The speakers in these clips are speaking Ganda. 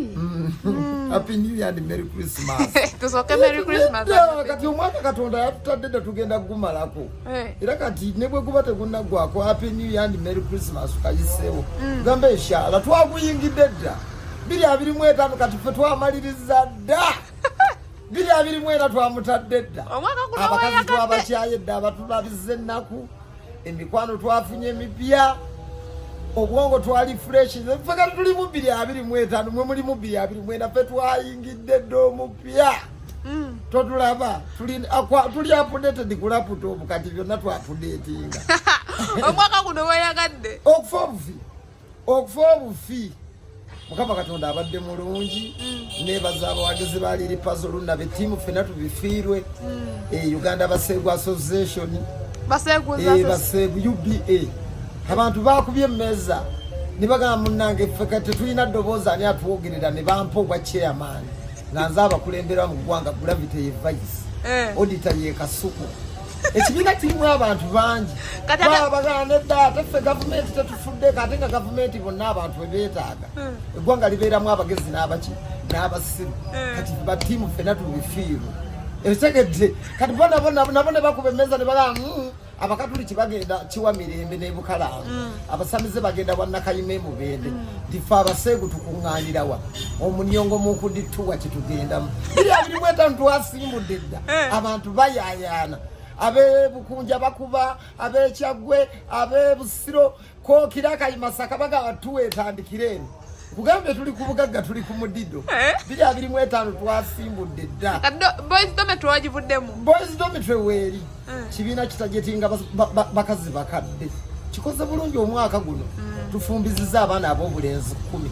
Mm. Happy New Year and Merry Christmas. Tusoke Merry Christmas. Yeah, kati omwaka katonda yatutadde dda tugenda kugumalako eh. era kati ne bwe guba tegunaggwako Happy New Year and Merry Christmas kayiseewo mm. gamba eshala twaguyingidde dda biri abiri mu etaano kati ffe twamaliriza dda biri abiri mu era twamutadde dda abakazi twabakyaye dda abatulabiza ennaku emikwano twafunye emipya obwongo twali fresh ffe kati tuli mu bbiri abiri mu etaano mwe muli mu bbiri abiri mwena ffe twayingidde dda omupya mm. totulaba tuli apudeted ku laputopu kati byonna twapudetinga omwaka guno weyagadde okufa obufi okufa obufi mukama katonda abadde mulungi mm. nebaza abawagizi ba liri pazo luna betiimu fena tubifiirwe mm. e uganda baseegu association baseegu e, uba abantu bakubye emmeeza nibagamba munange feka tetulina ddoboozi ani atwogerera ne bampa obwa chairman nga nze abakulembera mu ggwanga gravity ye vice eh. odita ye kasuku ekibiina kirimu abantu bangi babagana edda ate ffe gavumenti tetufuddeko ate nga gavumenti bonna abantu bebetaaga hmm. eggwanga libeeramu abagezi n'abaki n'abasiru hmm. kati batiimu ffena tubifiirwe ekitegedde kati bona bona nabo ne bakuba emmeeza ne balaa hmm, abakatuliki bagenda kiwa mirembe nebukalamu mm. abasamize bagenda wanakayima emubende mm. ndife abaseegu tukuŋŋaanirawa omunyongo munkudittuwa kitugendamu biri abiri mwetano twasimbudde dda eh. abantu bayayaana abebukunja bakuba abekyagwe abebusiro kokira kayimasaka bagaba tuwetandikira eno kugambye tuli ku bugagga tuli ku mudido eh? biri abiri mu etaano twasimbudde dda boys dometry wagivuddemu boys dometry weeri eh. kibiina kitajetinga bakazi bakadde kikoze bulungi omwaka guno mm. tufumbiziza abaana ab'obulenzi kumi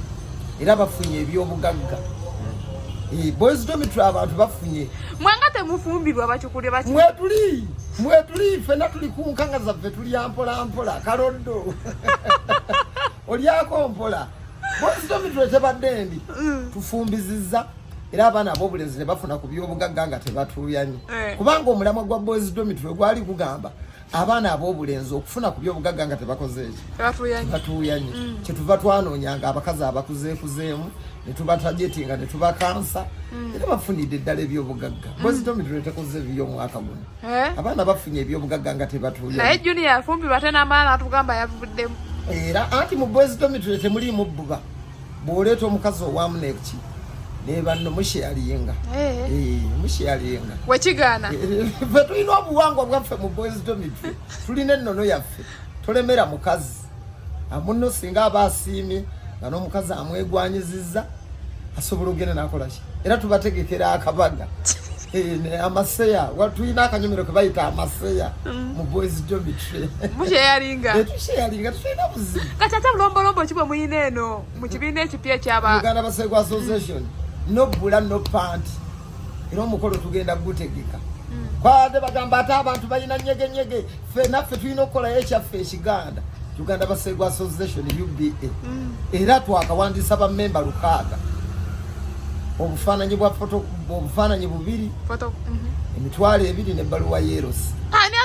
era bafunye ebyobugagga mm. eh, boys dometry abantu bafunye mwanga temufumbirwa batukule bati mwetuli mwetuli fena tuli kunkanga zaffe tuli ampola ampola kaloddo olyako mpola bositomitwe tebadde ndi mm. tufumbiziza era abaana abobulenzi nebafuna ku byobugagga nga tebatuuyanye eh. kubanga omulamwa gwa boys domitwe gwali gugamba abaana ab'obulenzi okufuna ku by'obugagga nga tebakoze ekyo batuuyanye mm. kyetuva twanoonya nga abakazi abakuzeekuzeemu netubatajetinga netubakansa mm. era bafunidde eddala ebyobugagga mm. bwezitomitiro tekoze ebiyo omwaka guno eh? abaana bafunye ebyobugagga nga tebatuuyaye junior afumbi bate n'amaana atugamba yavuddemu era anti mu bwezitomitiro temuliimu bbuba bw'oleeta omukazi owamuneki nebanno musheyalinga eh. eh, musheyalinga wekigaana eh, fe tulina obuwangwa bwaffe mu boys domitry tulina ennono yaffe tolemera mukazi amunno singa aba asiimye nga n'omukazi amwegwanyiziza asobola okugenda nakolaki era tubategekera akabaga amaseya watulina akanyomero kebayita amaseya mm. mu boys domitry musheyalinga eh, tusheyalinga tulina buzibu kati ate bulombolombo ki bwe muyina eno mu kibiina ekipya ekyaba uganda basegu association no bula no pant era omukolo tugenda gutegeka mm. kwade bagamba ate abantu balina nyegenyege ffe naffe tulina okukolayo ekyaffe ekiganda uganda basegu association uba mm. era twakawandiisa bamemba lukaaga obufaananyi bwa obufaananyi bubiri mm-hmm. emitwalo ebiri nebbaluwa yerosi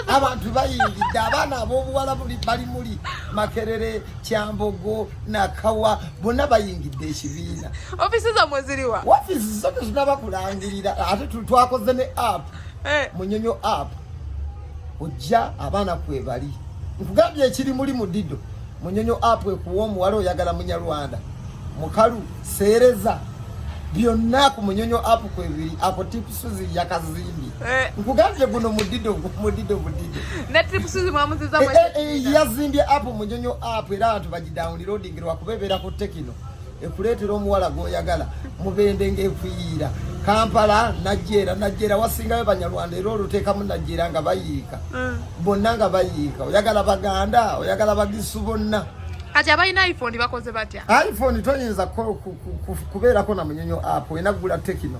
abantu bayingidde abaana abobuwala bali muli makerere kyambogo nakawa bonna bayingidde ekibiina ofisi zamwe ziriwa ofisi zo tetunabakulangirira ate twakoze ne app eh. munyonyo app ojja abaana kwebali nkugambye ekiri muli mu dido munyonyo apu ekuwa omuwala oyagala munyarwanda mukalu seereza byonna ku munyonyo apu kwebiri ako tipusuzi yakazimbi eh. nkugambye guno mudido mudido mudido eh, eh, yazimbye apu munyonyo apu era abantu bagidawunirodingirwa kuba ebeera ku tekino ekuleetera omuwala gwoyagala mubende ngaefuyiira kampala najjeera najjeera wasingayo banyarwanda era oluteekamu najjeera nga bayiika mm. bonna nga bayiika oyagala baganda oyagala bagisu bonna kati abalina iphone bakoze batya iphone toyinza kubeerako na munyonyo app olina kugula tekino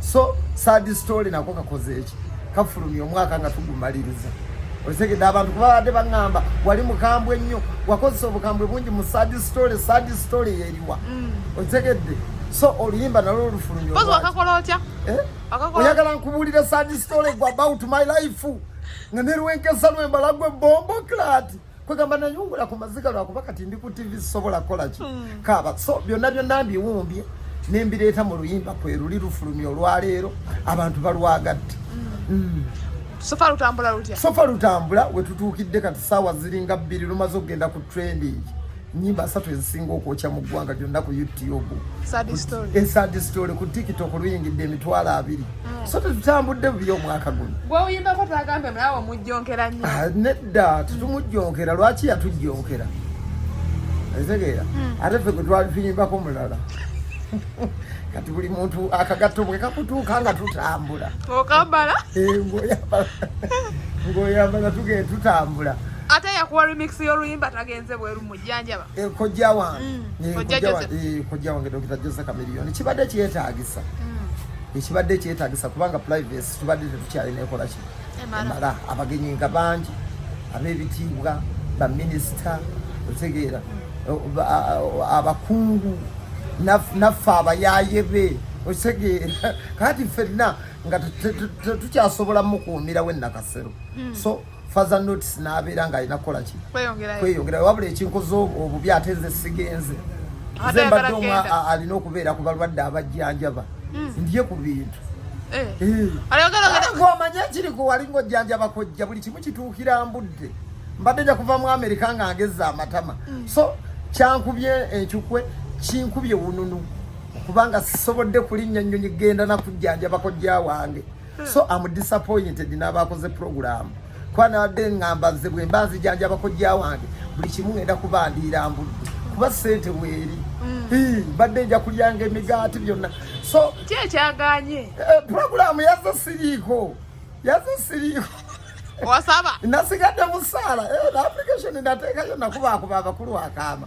so sad story nako kakoze eki kafulumya omwaka nga tugumaliriza otegedde abantu kubabadde baŋŋamba wali mukambwe nnyo wakozesa obukambwe bungi mu sad story sad story yeriwa mm. otegedde so oluyimba nalwo olufulumya eh? oyagala nkubuulire sad story gwa about my life nga nerwenkesa lwembala gwe bombo klati kwegamba nayungula ku maziga lwakuba kati ndi ku tv sisobola kukola ki hmm. kaaba so byonna byonna mbiwumbye ne mbireeta mu luyimba kwe luli lufulumya olwaleero abantu balwagadde hmm. Hmm. sofa lutambula lutya sofa lutambula wetutuukidde kati saawa ziringa bbiri lumaze okugenda ku trending nyimba asatu ezisinga okwokya mu ggwanga lyonna ku youtube esad story ku tiktok luyingidde emitwalo abiri mm. so tetutambudde bubi omwaka guno gwewuyimbako twagambe mulawo mujjonkera nyo ah, nedda tetumujjonkera lwaki yatujjonkera etegeera mm. ate fe gwetwali tuyimbako mulala kati buli muntu akagatto bwe kakutuuka nga tutambula okambala eh, ngoyambala tugee tutambula ate yakuwa remix y'oluyimba tagenze bweru mujjanjaba eh, kojja wange mm, eh, kojja eh, wange dokita jose kamiliyoni kibadde kyetagisa mm. ekibadde kyetagisa kubanga privacy tubadde tetukyalina ekola kino emala abagenyi nga bangi ab'ebitiibwa baminisita otegeera mm. abakungu naffe abayaye be otegeera kati fenna nga tetukyasobola mukuumirawo enakasero so faza notes nabeera nga alina kukola ki kweyongera wabula ekinkoze obubi ate nze sigenze nze mbadde omu alina okubeera ku balwadde abajjanjaba hmm. ndye ku bintu eh. eh. omanye ekiri ku wali ngaojjanjaba kojja buli kimu kituukira mbudde mbadde nja kuva mu amerika nga ngezza amatama hmm. so kyankubye enkikwe kinkubye wununu kubanga sisobodde kulinnya nnyonyi genda nakujjanjaba kojja wange so am disappointed n'abakoze puroguramu kuba nabadde ngamba nze bwe mba nzijanjaba kojja wange buli kimu ngenda kuba ndiira mbudde kuba sente bweri mm. mbadde nja kulyanga emigaati byonna so ki ekyaganye eh, puroguramu yaza siriiko yaza siriiko wasaba nasigadde musaala eh, application nateekayo nakubakuba abakulu akaama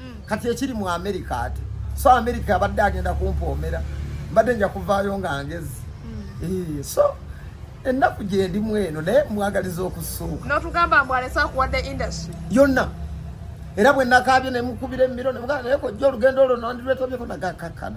mm. kati ekiri mu amerika ate so amerika abadde agenda kumpoomera mbadde nja kuvaayo nga ngezi mm. eh, so ennaku gyendimu eno naye mwagaliza okusuuka notugamba mbu alese akuwadde industry yonna era bwe nakaabye nemukubira emiro naye kojja olugendo olwo nondirwetobyeko nagakakkana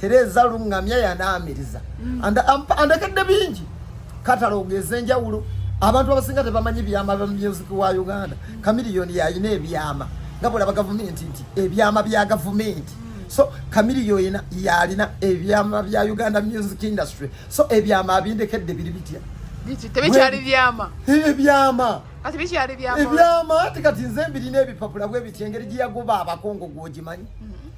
tereeza luŋŋamya yanaamiriza mm. andakedde bingi katalogeza enjawulo abantu abasinga tebamanyi byama bya music wa uganda mm. kamiliyoni yalina ebyama nga bwolaba gavumenti nti ebyama bya gavumenti mm. so kamiliyoni yalina ebyama bya uganda music industry so ebyama abindekedde biri bitya tebikyali byama ebyama ebyama ati kati nze mbirina ebipapula bwebitya engeri gyeyagoba abakongo gwogimanyi mm-hmm.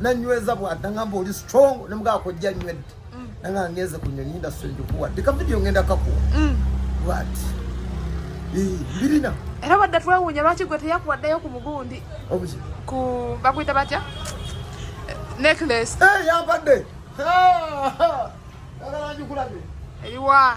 nanyweza bwada ngamba oli strong nemugaa kojja nywedde mm. nanga ngenze ku nyonyi industry njikuwa dika video ngenda kakuwa mm. bwat birina era wadda twewuunya lwaki gwe teyakuwaddeyo ku mugundi ku bakuyita batya necklace eh, yambadde ah, ah, ah. eriwa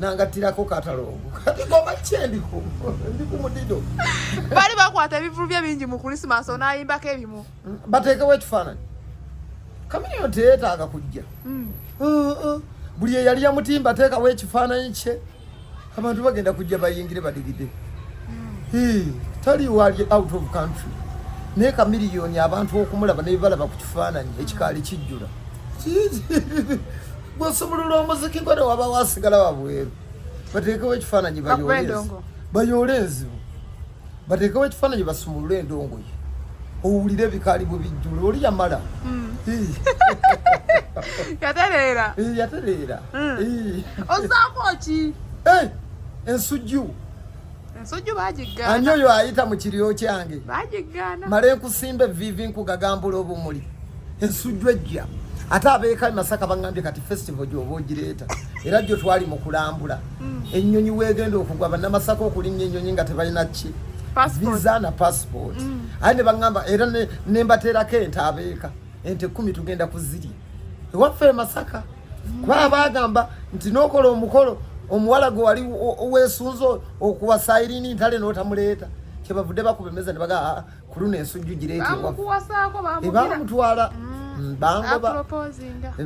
nangattirako katalongo kati goma kyendiko ndi ku mudido bali bakwata ebivulu bye bingi mu kulisimansi onayimbako ebimu bateekewo ekifaananyi kamiliyo teyeetaaga kujja hmm. uh, uh. buli eyali yamutimba ateekawo ekifaananyi kye abantu bagenda kujja bayingire badigide hmm. tali wali out of country naye kamiliyoni abantu okumulaba nebibalaba ku kifaananyi ekikaali kijjula gwosumulula omuziki gwe newaba wasigala wabweru bateekewo ekifaananyi bayoole enzibu bateekewo ekifaananyi basumulule endongoye owulire ebikaali bwe bijjula oli yamala hmm. yatereera yatereera hmm. ozaako ki ensujju ensujju bagiggaana ani oyo ayita mu kiryo kyange bagiggaana male nkusimba evivi nkugagambula obumuli ensujju ejja ate abeeka masaka baŋambye kati festival gyoba ogireeta era gyo twali mu kulambula hmm. ennyonyi weegenda okugwa bannamasaka okulinnya ennyonyi nga tebalina ki visa na passport hmm. aye ne baŋamba era ne mbateerako ente abeeka ente kumi tugenda kuzirya ewaffe e masaka kuba baagamba nti n'okola omukolo omuwala gwe wali weesunze okuwasairini ntale n'otamuleeta kyebavudde bakuba emeza ne baga ah, ah, ku luno ensujju gireetebamutwala mm. mm,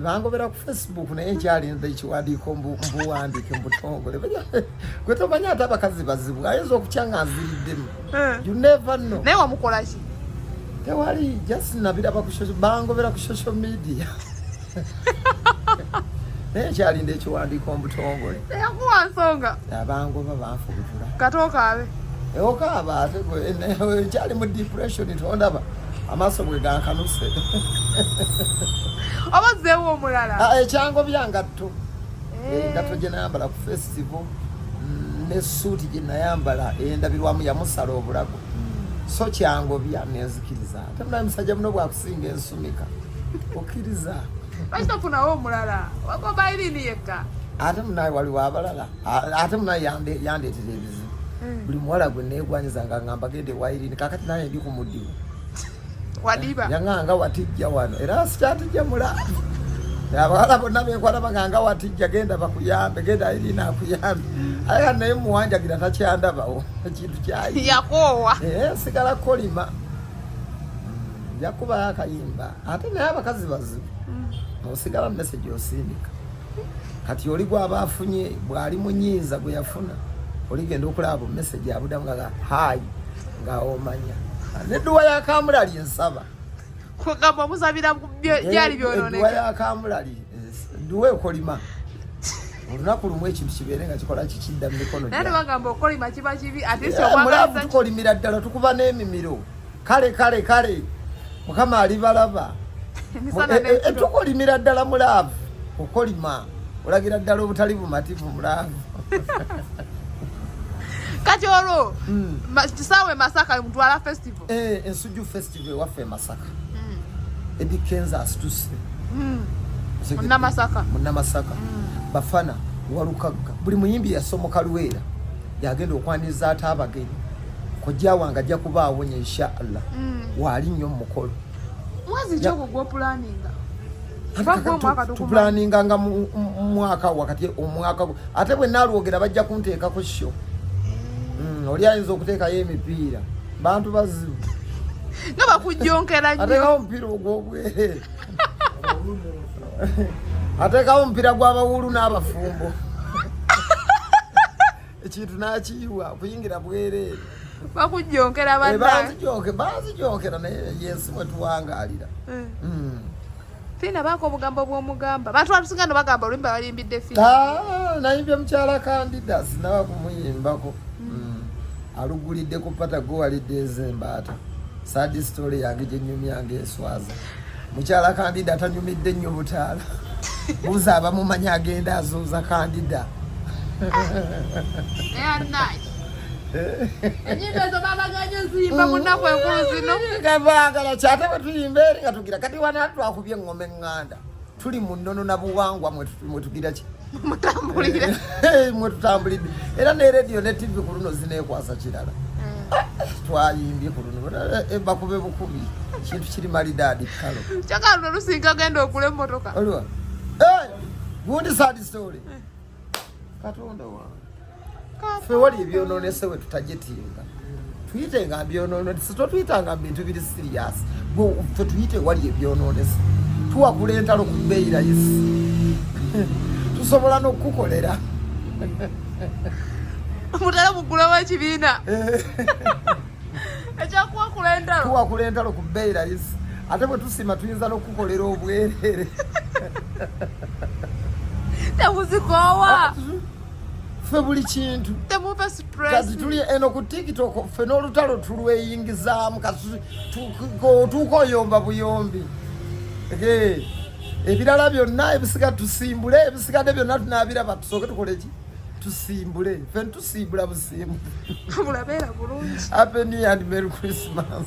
bangobera ku facebook naye nkyalinza ekiwandiiko mbuwandike mbutongole gwe tomanya ate abakazi bazibu ayinza okutya nga nziriddemu eh. you never know naye wamukolaki tewali just nabiraba bangobera ku social media naye kyalinda ekiwandiiko omutongole yakuwa nsonga abangoba banfubutula katokaabe ewokaaba ate kyali mu depression tondaba amaaso bwe gankanuse oba zeewo omulala ah, ekyango byangatto eh. engatto gye nayambala ku festival mm, nesuuti gye nayambala endabirwamu yamusala obulago hmm. so kyangobya nenzikiriza Ate mulabe musajja muno bwakusinga ensumika okkiriza lwaki tofunawo omulala wagomba irini yekka ate munaye waliwo abalala ate munaye yandeetera ebizibu hmm. buli muwala gwe neegwanyiza nga ngamba gende wa irini kakati naye ndi ku mudimu wadiba yanganga watijja wano era sikyatijja mulala abawala bonna benkwata baganga watijja genda bakuyambe genda irini akuyambe hmm. aya naye muwanjagira takyandabawo ekintu kyayi yakoowa eh, sigala kolima nja kubayo akayimba ate naye abakazi bazibu mm. osigala message osindika kati oli gwaba afunye bwali munyinza gweyafuna oligenda okulaba bu message abudamu nga hayi nga omanya neduwa yakamulali ensaba kugamba omuzabira byali byononeka eduwa yakamulali duwa ekolima olunaku lumu ekintu kibeere nga kikola kikidda mu mikono bagamba okolima kiba kibi atemulavu tukolimira ddala tukuba n'emimiro kale kale kale mukama alibalaba eh, eh, eh, tukolimira ddala mulaavu okolima olagira ddala obutali bumativu mulaavu kati olwo hmm. kisaawe masaka mutwala festival ensujju festival Tive waffe Masaka. Mm. Eddie Kenza asituse. Mm. Muna Masaka. Muna Masaka. Mm. Bafana walukagga. Buli muyimbi yasomoka Luweera yagenda okwaniriza ate abagenyi. Kojja wange ajja kuba awonye insha Allah. Mm. Waali nnyo mu mukolo. Mwezi ki ogwo gw'opulaninga? tupulaninga nga mwaka wakati omwaka ate bwe nalwogera bajja kunteeka ku sho eh. mm, oli ayinza okuteekayo emipiira bantu bazibu nga bakujjonkera nnyo atekawo omupiira ogw'obwereere atekawo omupiira gw'abawuulu n'abafumbo ekintu n'akiyiwa kuyingira bwereere bakujjonkera eh, banange banzijokera naye yensi mwe tuwangalira eh. hmm. Fina bako obugambo bw'omugamba bantu batusinga no bagamba oluyimba balimbidde Fina ah, nayimbye mukyala kandida sinaba kumuyimbako hmm. hmm. alugulidde ku pata gowalidde ez'embaata sadi story yange gyenyumyanga eswaza mukyala kandida atanyumidde nnyo butaala buza abamumanya agenda azuuza kandida enyimba ezo babaganyo ziyimba munaku enkulu zino gabagala kyate bwetuyimba eri gira kati wana twakubye ngome nganda tuli mu nnono na buwangwa mwe tugira ki mutambulire eh, mwe tutambulidde era ne radio ne tv ku luno zineekwasa kirala hmm. ah, twayimbye ku luno eh, eh, bakube bukubi kintu kiri malidaadi kalo kyakaluno lusinga genda okula emotoka gundi sad story katonda wange fe wali ebyononese we tutajetinga tuyite nga byononese totuyitanga bintu biri serious fe tuyite wali ebyononese tuwakula entalo ku bbeeyi layisi tusobola n'okukukolera mutala mugula wa kibiina ekyakuwakula entalo kuwakula entalo ku bbeeyi layisi ate bwe tusima tuyinza n'okukukolera obwereere temuzikoowa ah, ffe buli kintu kati tuli eno ku tiktok ffe n'olutalo tulweyingizaamu kati otuuka oyomba buyombi ebirala byonna ebisiga tusimbule ebisigadde byonna tunaabiraba tusooke tukoleki tusimbule ffe siibula busiimu bulabeera bulungi happy new and merry christmas